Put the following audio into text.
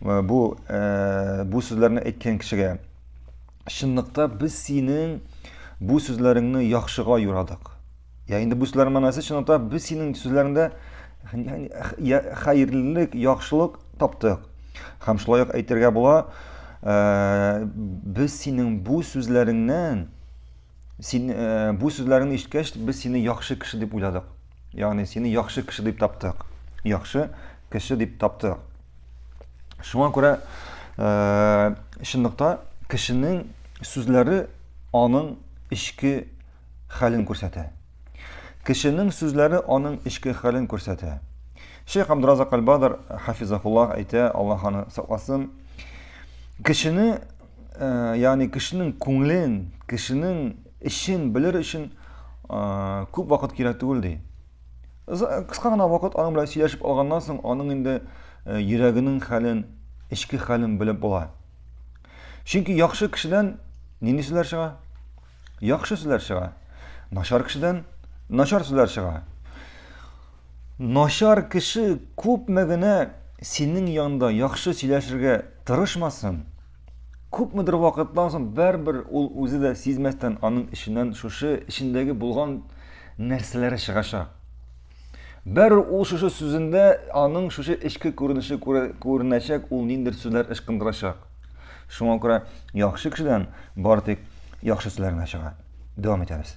Э, бу э, бу сүзләрне әйткән кешегә чынлыкта без синең бу сүзләреңне яхшыга юрадык я инде бу сүзләрнең мәнәсе чынлыкта без синең сүзләреңдә хәерлелек яхшылык таптык һәм шулай ук әйтергә була э, без синең бу сүзләреңнән Син э, бу сүзләреңне ишеткәч, без сине яхшы кеше дип уйладык. Ягъни сине яхшы кеше дип таптык. Яхшы кеше дип таптык. Шуңа күрә э, чынлыкта кешенең сүзләре аның эчке хәлен күрсәтә. Кешенең сүзләре аның эчке хәлен күрсәтә. Шейх Абдразак Албадар хафизахуллах әйтә, Аллаһ аны сакласын. Кешене ягъни кешенең күңелен, кешенең эчен белер өчен күп вакыт кирәк түгел ди. Кыска гына вакыт аның белән сөйләшеп алганнан соң, аның инде йөрәгенең хәлен, эчке хәлен белеп була. Чөнки яхшы кешедән нинди сүзләр чыга? яхшы сүзләр чыга. Начар кешедән начар сүзләр чыга. Начар кеше күпме генә синең янда яхшы сөйләшергә тырышмасын, күпмедер вакыттан соң бәрбер ул үзе дә сизмәстән аның эченнән шушы эчендәге булган нәрсәләре чыгачак. Бәрүк ул шушы сүзендә аның шушы эчке күренеше күренәчәк, ул ниндер сүзләр ычкындырачак. Шуңа күрә яхшы кешедән бары тик яхшы сүзләр генә чыга. Дәвам итәбез.